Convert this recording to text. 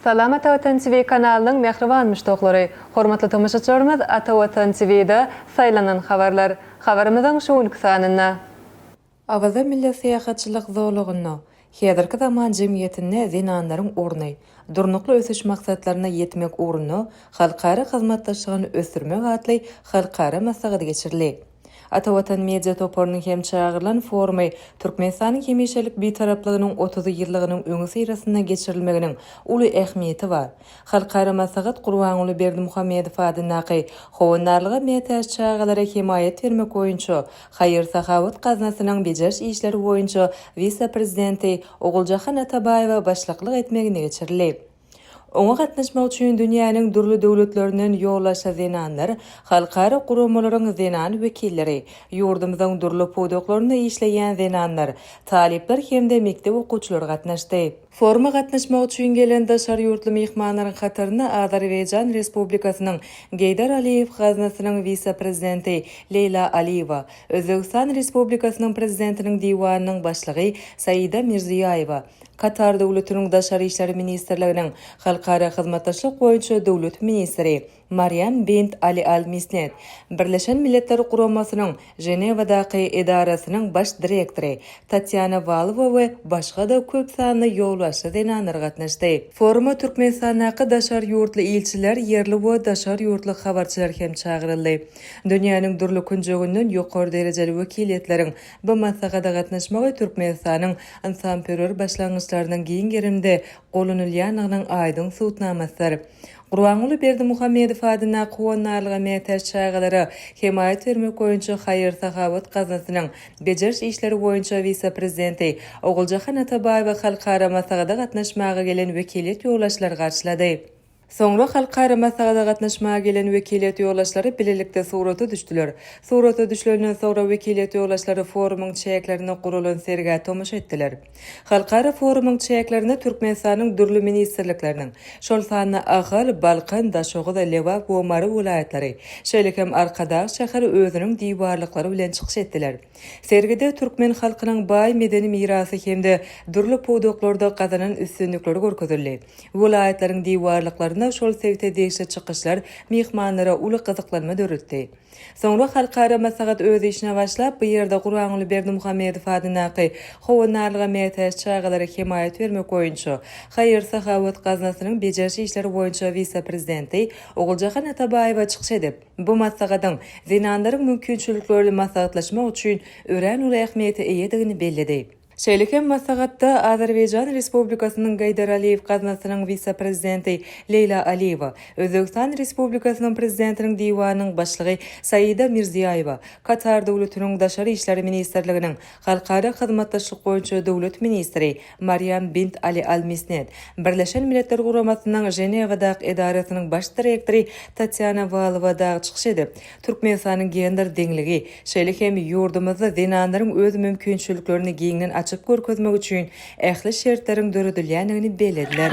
Salam Ata Watan TV kanalynyň mähriban muşdaklary! Hormatly tomaşaçylarymyz Ata Watan TVda Saýlanan habarlar habarymyzyň şu günki sanynda. Awaza milli syýahatçylyk zolagynda Häzirki zaman jemgyýetinde zenanlaryň orny, Durnukly ösüş maksatlaryna ýetmek ugrunda halkara hyzmatdaşlygyny ösdürmek atly halkara maslahaty geçirildi. Ata Watan media toparynyň hem çagyrylan forumy Türkmenistanyň hemişelik Bitaraplygynyň otuz ýyllygynyň öňüsyrasynda geçirilmeginiň uly ähmiýeti bar. Halkara maslahat Gurbanguly Berdimuhamedow adyndaky Howandarlyga mätäç çagalara hemaýat bermek boýunça haýyr-sahawat gaznasynyň bejeriş işleri boýunça wise-prezidenti Oguljahan Atabaýewa başlyklyk etmeginde geçirildi. Oňa gatnaşmak üçin dünýäniň dürli döwletlerinden ýollaşa zenanlar, halkara guramalaryň zenan wekilleri, ýurdumyzyň dürli pudaklarynda işleýän zenanlar, talyplar hem-de mekdep okuwçylary gatnaşdy. Foruma gatnaşmak üçin gelen daşary ýurtly myhmanlaryň hatarynda Azerbaýjan Respublikasynyň Geýdar Aliýew gaznasynyň wise-prezidenti Leýla Aliýewa, Özbegistan Respublikasynyň Prezidentiniň Diwanynyň başlygy Saida Mirziýaýewa, Katar Döwletiniň Daşary işler ministrliginiň Halkara hyzmatdaşlyk boýunça döwlet ministri Marýam bint Ali Al Misnet, Birleşen Milletler Guramasynyň Ženewadaky edarasynyň baş direktory Tatýana Walowa we başga-da köp sanly ýolbaşçy zenanlar gatnaşdy. Foruma Türkmenistandaky daşary ýurtly ilçiler, ýerli we daşary ýurtly habarçylar hem çagyryldy. Dünýäniň dürli künjeginden ýokary derejeli wekiliýetleriň Bu maslahata gatnaşmagy Türkmenistanyň ynsanperwer başlangyçlarynyň giň gerimde golunylýandygynyň aýdyň subutnamasydyr. Gurbanguly Berdimuhamedow adyndaky Howandarlyga mätäç çagalara hemaýat bermek boýunça haýyr-sahawat gaznasynyň bejeriş işleri boýunça wise-prezidenti Oguljahan Atabaýewi halkara maslahata gatnaşmaga gelen wekiliýet ýolbaşçylary garşylady. Soňra halkara maslahata gatnaşmaga gelen wekiliýet ýoldaşlary bilelikde surata düşdüler. Surata düşlenden soňra wekiliýet ýoldaşlary forumyň çäklerinde guralan sergä tomaşa etdiler. Halkara forumyň çäklerinde Türkmenistanyň dürli ministrlikleriniň, şol sanda Ahal, Balkan, Daşoguz, Lebap we Mary welaýatlary, şeýle hem Arkadag şäheri özüniň diwarlyklary bilen çykyş etdiler. Sergide türkmen halkynyň baý medeni mirasy hem-de dürli pudaklarda gazanan üstünlikleri görkezildi. Welaýatlaryň diwarlyklarynda şol sebite degişli çykyşlar myhmanlara uly gyzyklanma döretdi. Soňra halkara maslahat öz işine başlap, bu ýerde Guranguly Berdimuhamedow adyndaky Howandarlyga mätäç çagalara hemaýat bermek boýunça haýyr-sahawat gaznasynyň bejeriş işleri boýunça wise-prezidenti Oguljahan Atabaýewa çykyş edip, bu maslahatyň zenanlaryň mümkinçiliklerini maslahatlaşmak üçin örän uly ähmiýete eýedigini belledi. Şeýle hem maslahatda Azerbaýjan Respublikasynyň Gaýdar Aliýew gaznasynyň wise-prezidenti Leýla Aliýewa, Özbegistan Respublikasynyň Prezidentiniň Diwanynyň başlygy Saida Mirziýaýewa, Katar Döwletiniň Daşary işler ministrliginiň Halkara hyzmatdaşlyk boýunça döwlet ministri Marýam bint Ali Al Misnet, Birleşen Milletler Guramasynyň Ženewadak edarasynyň baş direktory Tatýana Walowa dagy çykyş edip, Türkmenistanyň gender deňligi, şeýle hem ýurdumyzda zenanlaryň öz mümkinçiliklerini giňden açyp görkezmegi üçin ähli şertleriň döredilýändigini bellediler.